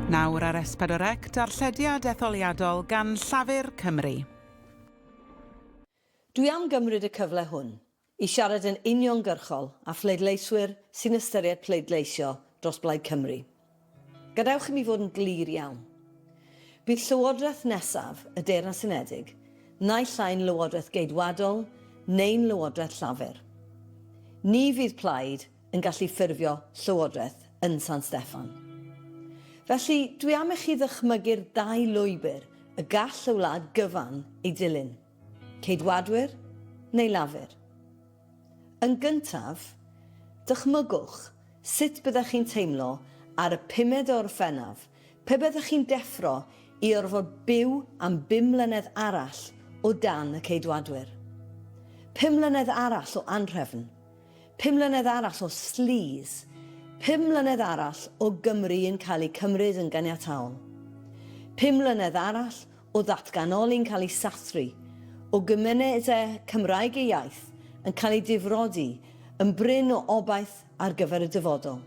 Nawr ar Espadorec, darllediad etholiadol gan Llafur Cymru. Dwi am gymryd y cyfle hwn i siarad yn uniongyrchol â phleidleiswyr sy'n ystyried pleidleisio dros Blaid Cymru. Gadewch i mi fod yn glir iawn. Bydd Llywodraeth nesaf y Deyrnas Unedig naill ai'n Lywodraeth Geidwadol neu'n Lywodraeth Llafur. Ni fydd plaid yn gallu ffurfio Llywodraeth yn San Steffan. Felly, dwi am i chi ddychmygu'r ddau lwybr y gall y wlad gyfan ei dilyn, Ceidwadwyr neu Lafur. Yn gyntaf, dychmygwch sut byddech chi'n teimlo ar y pumed o Orffennaf pe byddech chi'n deffro i orfod byw am bum mlynedd arall o dan y Ceidwadwyr. Pum mlynedd arall o anhrefn. Pum mlynedd arall o sleaze. Pum mlynedd arall o Gymru yn cael ei cymryd yn ganiataol. Pum mlynedd arall o ddatganoli'n cael ei sathru, o gymunedau Cymraeg ei iaith yn cael ei difrodi yn brin o obaith ar gyfer y dyfodol.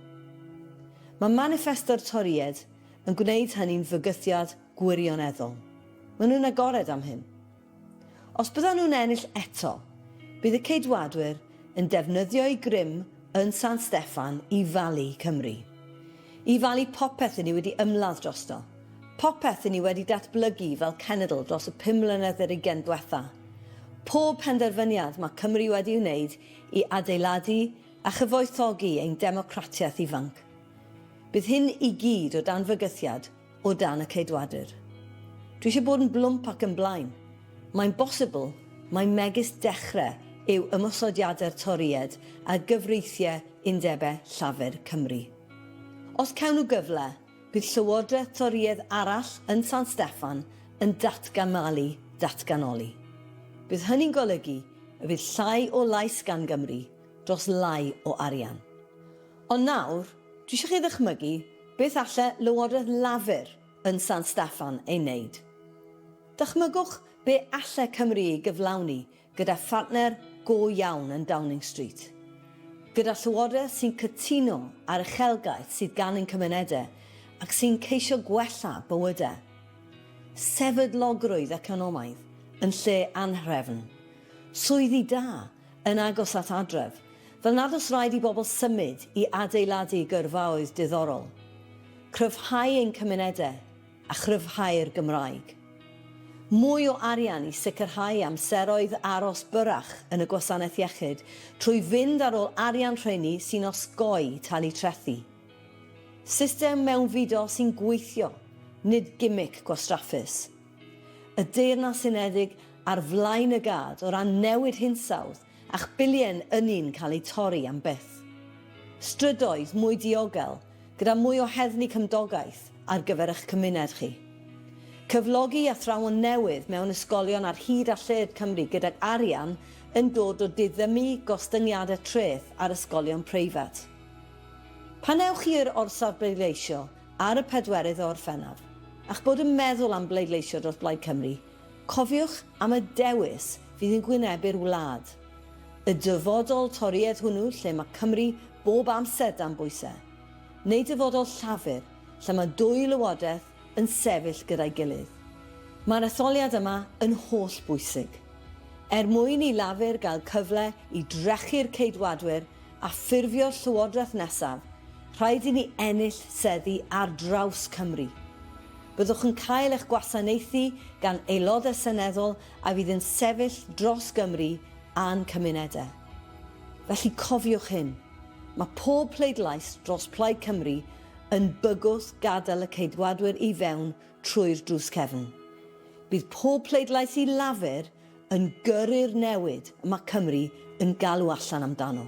Mae maniffesto'r Torïaid yn gwneud hynny'n fygythiad gwirioneddol. Maen nhw'n agored am hyn. Os byddan nhw'n ennill eto, bydd y Ceidwadwyr yn defnyddio'u grym yn San Steffan i falu Cymru. I falu popeth i ni wedi ymladd drosto. Popeth i ni wedi datblygu fel cenedl dros y pum mlynedd i'r ugain dwetha. Pob penderfyniad mae Cymru wedi'i wneud i adeiladu a chyfoethogi ein democratiaeth ifanc. Bydd hyn i gyd o dan fygythiad o dan y Ceidwadwyr. Dwi eisiau bod yn blwmp ac yn blaen. Mae'n bosibl mai megis dechrau yw ymosodiadau'r Torïaid ar gyfreithiau undebau Llafur Cymru. Os cawn nhw gyfle, bydd llywodraeth Torïaidd arall yn San Steffan yn datganmalu datganoli. Bydd hynny'n golygu y bydd llai o lais gan Gymru dros lai o arian. Ond nawr, Dwi eisiau chi ddychmygu beth alle Lywodraeth Lafur yn San Steffan ei wneud. Dychmygwch be alle Cymru ei gyflawni gyda phartner go iawn yn Downing Street. Gyda Llywodraeth sy'n cytuno â'r uchelgais sydd gan ein cymunedau ac sy'n ceisio gwella bywydau. Sefydlogrwydd economaidd yn lle anhrefn. Swyddi da yn agos at adref, fel nad oes rhaid i bobl symud i adeiladu gyrfaoedd diddorol, cryfhau ein cymunedau a chryfhau'r Gymraeg. Mwy o arian i sicrhau amseroedd aros byrrach yn y Gwasanaeth Iechyd trwy fynd ar ôl arian rheiny sy'n osgoi talu trethi. System mewnfudo sy'n gweithio, nid gimic gwastraffus. y Deyrnas Unedig ar flaen y gad o ran newid hinsawdd a'ch billiau'n ynni'n cael eu torri am byth. Strydoedd mwy diogel gyda mwy o heddlu cymdogaeth ar gyfer eich cymuned chi. Cyflogi athrawon newydd mewn ysgolion ar hyd a lled Cymru gydag arian yn dod o diddymu gostyngiadau treth ar ysgolion preifat. Pan ewch chi i'r orsaf bleidleisio, ar y pedwerydd o Orffennaf, a'ch bod yn meddwl am bleidleisio dros Blaid Cymru, cofiwch am y dewis fydd yn gwynebu'r wlad. Y dyfodol Torïaidd hwnnw lle mae Cymru bob amser dan bwysau? Neu dyfodol Llafur lle mae dwy lywodraeth yn sefyll gyda'i gilydd? Mae'r etholiad yma yn holl bwysig. Er mwyn i Lafur gael cyfle i drechu'r Ceidwadwyr a ffurfio'r Llywodraeth nesaf, rhaid i ni ennill seddi ar draws Cymru. Byddwch yn cael eich gwasanaethu gan Aelodau Seneddol a fydd yn sefyll dros Gymru a'n cymunedau. Felly cofiwch hyn, mae pob pleidlais dros Plaid Cymru yn bygwth gadael y Ceidwadwyr i fewn trwy'r drws cefn. Bydd pob pleidlais i Lafur yn gyrru'r newid y mae Cymru yn galw allan amdano.